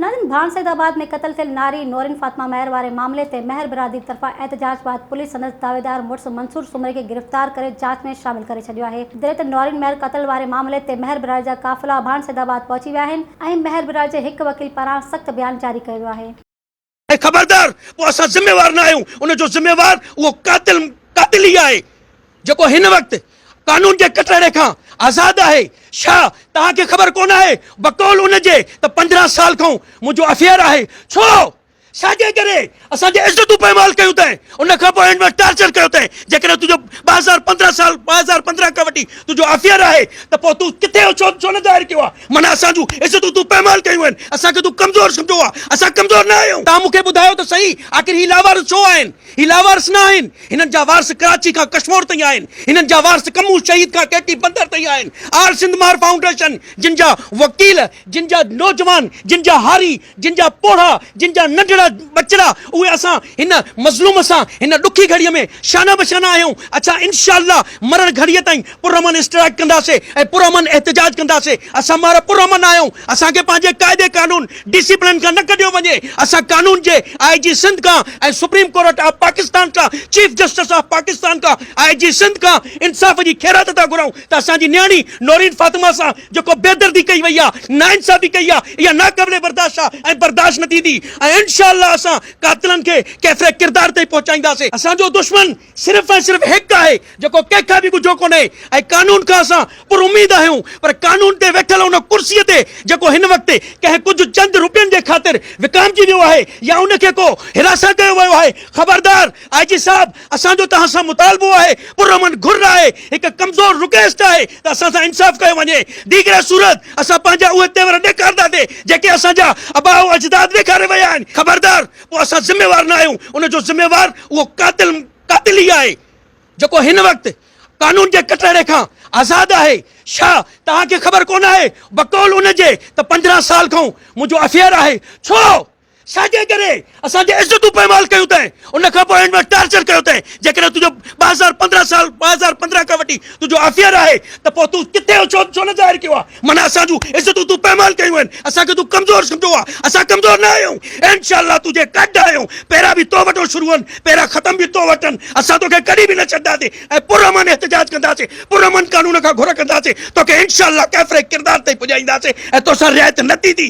نارين ڀاڻ سيد آباد ۾ قتل ٿيل ناري نورين فاطمه مهر واري معاملي تي مهر برادري طرفان احتجاج بعد پوليس سندس دعويدار مڙس منصور سومري کي گرفتار ڪري جاچ ۾ شامل ڪري ڇڏيو آهي جڏهن ته نورين مهر قتل واري معاملي تي مهر برادري جا قافلا ڀاڻ سيد آباد پهچي ويا آهن ۽ مهر برادري جي هڪ وڪيل پاران سخت بيان جاري ڪيو ويو آهي. اي خبردار! پوء اسان ذميوار نه آهيون، ان جو ذميوار اهو قاتل قاتل ئي آهي، جيڪو هن وقت قانون جي ڪٽهڙي کان آزاد آهي. ڇا توهان کي خبر ڪونه آهي، بقول ان جي ته پندرهن سال کانئون منهنجو افيئر آهي. ڇو؟ ڇاجي ڪري؟ اسان جي عزتون پائمال ڪيون اٿئي، ان کان پوء هن وٽ ٽارچر ڪيو اٿئي. جيڪڏهن تنهنجو ٻه هزار پندرهن سال ٻه هزار پندرهن کان وٺي تنهنجو افيئر آهي ته پوء تون ڪٿي هو، ڇو ڇو نه ظاهر ڪيو آهي؟ معنيٰ اسان جون عزتون تون پائمال ڪيون آهن، اسان کي تون ڪمزور سمجهو آهي، اسان ڪمزور نه آهيون. توهان مون کي ٻڌايو ته صحيح آخر هي لاوارث ڇو آهن؟ هي لاوارث نه آهن، هنن جا وارث ڪراچي کان ڪشمور تائين آهن، هنن جا وارث ڪمون شهيد کان ڪي ٽي بندر تائين آهن، آل سنڌ مار فائونڊيشن جن جا وڪيل، جن جا نوجوان، جن جا هاري، جن جا پوڙها، جن جا ننڍڙا ٻچڙا اهي اسان هن مظلوم سان هن ڏکي گهڙيء ۾ شانه به شانه آهيون، اڇا انشاء الله مرڻ گهڙيء تائين پرامن اسٽرائيڪ ڪنداسي ۽ پرامن احتجاج ڪنداسي، اسان مارئا پرامن آهيون، اسان کي پنهنجي قاعدي قانون، ڊسيپلن کان نه ڪڍيو وڃي، اسان قانون جي آء جي سنڌ کان ۽ سپريم ڪورٽ آف پاڪستان کان، چيف جسٽس آف پاڪستان کان، آء جي سنڌ کان انصاف جي خيرات ٿا گهرائون ته اسان جي نياڻي نورين فاطمه سان جيڪو بيدردي ڪئي وئي آهي، ناانصافي ڪئي آهي اها ناقابل برداشت آهي ۽ برداشت نه ٿيندي ۽ انشاء الله اسان قاتلن کي ڪيفر ڪردار تائين پهچائينداسي، اسان جو دشمن. صرف ۽ صرف هڪ آهي جيڪو ڪنهن کان به ڳجهو ڪونهي ۽ قانون کان اسان پر اميد آهيون پر قانون تي ويٺل ان ڪرسي تي جيڪو هن وقت ڪنهن ڪجهه چند روپين جي خاطر وڪامجي ويو آهي يا ان کي ڪو هراسان ڪيو ويو آهي خبردار آء جي صاحب اسان جو توهان سان مطالبو آهي پرامن گهر آهي هڪ ڪمزور رڪويسٽ آهي ته اسان سان انصاف ڪيو وڃي ديگري صورت اسان پنهنجا اهي تيور ڏيکارنداسي جيڪي اسان جا اباء اجداد ڏيکاري ويا آهن خبردار پوء اسان ذميوار نه آهيون، ان جو ذميوار اهو قاتل قاتل ئي آهي، جيڪو هن وقت قانون جي ڪٽهڙي کان آزاد آهي. ڇا توهان کي خبر ڪونه آهي بقول ان جي ته پندرهن سال کانئون منهنجو افيئر آهي. ڇو؟ ڇاجي ڪري؟ اسان جي عزتون پائمال ڪيون اٿئي، ان کان پوء هن وٽ ٽارچر ڪيو اٿئي، جيڪڏهن تنهنجو ٻه هزار پندرهن سال ٻه هزار پندرهن کان وٺي تنهنجو افيئر آهي ته پوء تون ڪٿي هو ڇو نه ظاهر ڪيو آهي؟ معنيٰ اسان جون عزتون تون پئمال ڪيون آهن، اسان کي تون ڪمزور سمجهو آهي، اسان ڪمزور نه آهيون، انشاء الله تنهنجي گڏ آهيون، پيرا به تو وٽو شروع هن، پيرا ختم به تو وٽ هن، اسان توکي ڪڏهن به نه ڇڏنداسين ۽ پرامن احتجاج ڪنداسين، پرامن قانون کان گهر ڪنداسين، توکي انشاء الله ڪيفري ڪردار تائين پڄائينداسين ۽ توسان رعايت نه ٿيندي.